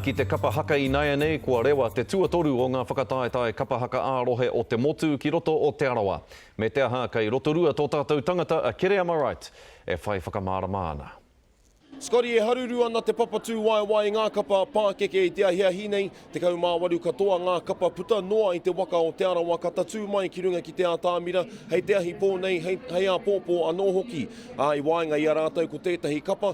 Ki te kapa haka inaianei kua rewa te tuatoru o ngā whakataetae kapa haka ā-rohe o te motu ki roto o Te Arawa. Me te aha, kei Rotorua tō tātou tangata a Kerry Amaright e whai whakamārama ana. Scotty e haruru ana te papatūwaewae ngā kapa pākeke i te ahiahi nei, 18 katoa ngā kapa puta noa i te waka o Te Arawa ka tatū mai ki runga ki te ātamira hei te ahi pō nei hei hei āpōpō anō hoki, ā, i waenga i a rātou ko tētahi kapa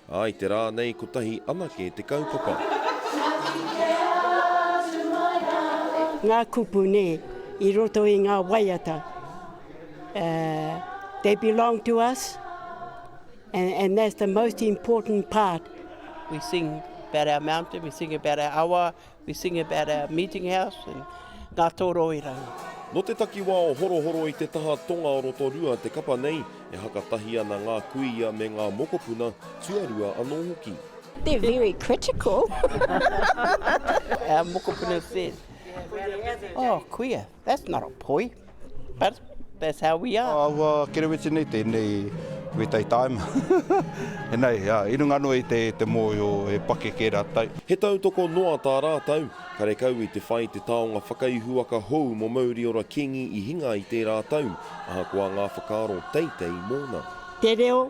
Ā, i te rā nei kotahi anake te kaupapa. Ngā kupu nē i roto i ngā waiata they belong to us and that's the most important part. We sing about our mountain, we sing about our awa, We sing about our meeting house and ngā tōroiranga. Nō te takiwā o Horohoro i te taha tonga o Rotorua te kapa nei, e hakatahi ana ngā kuia me ngā mokopuna, tuarua anō hoki. They're very critical. Our mokopuna said, oh, kuia. That's not a poi, but that's how we are. Aua kereweti nei, tēnei wetai taima. Enei, i runga noa i te mōhio he pakeke rātou. He tautoko noa tā rātou. Karekau i te whai te taonga whakaihuwaka hou mō Mauriora Kīngi i hinga i tērā tau, ahakoa ngā whakaaro teitei mōna. Te reo,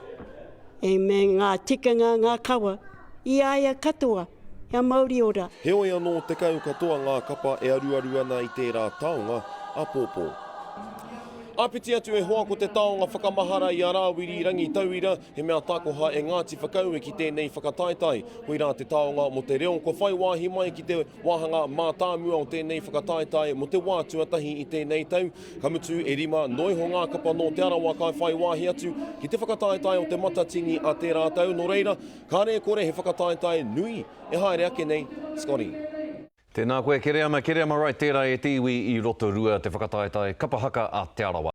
me ngā tikanga, ngā kawa, I a ia katoa, kia mauri ora. Heoi anō, tekau katoa ngā kapa e aruaru ana i tērā taonga apōpō. Āpiti atu e hoa ko te taonga whakamahara i a Rāwiri Rangi tauira, he mea takoha e Ngāti Whakaue ki tēnei whakataetae. Koirā te taonga mō te reo kua whai wāhi mai ki te wāhanga mātāmua o tēnei whakataetae mō te wā tuatahi i tēnei tau, Ka mutu, e rima noa iho ngā kapa nō Te Arawa ka whai wāhi atu ki te whakataetae o Te Matatini a tērā tau, nō reira, kāre e kore he whakataetae nui e haere ake nei, Scotty. Tēnā koe Kereama, Kereama Wright tērā e te iwi i Rotorua te whakataetae kapa haka a Te Arawa.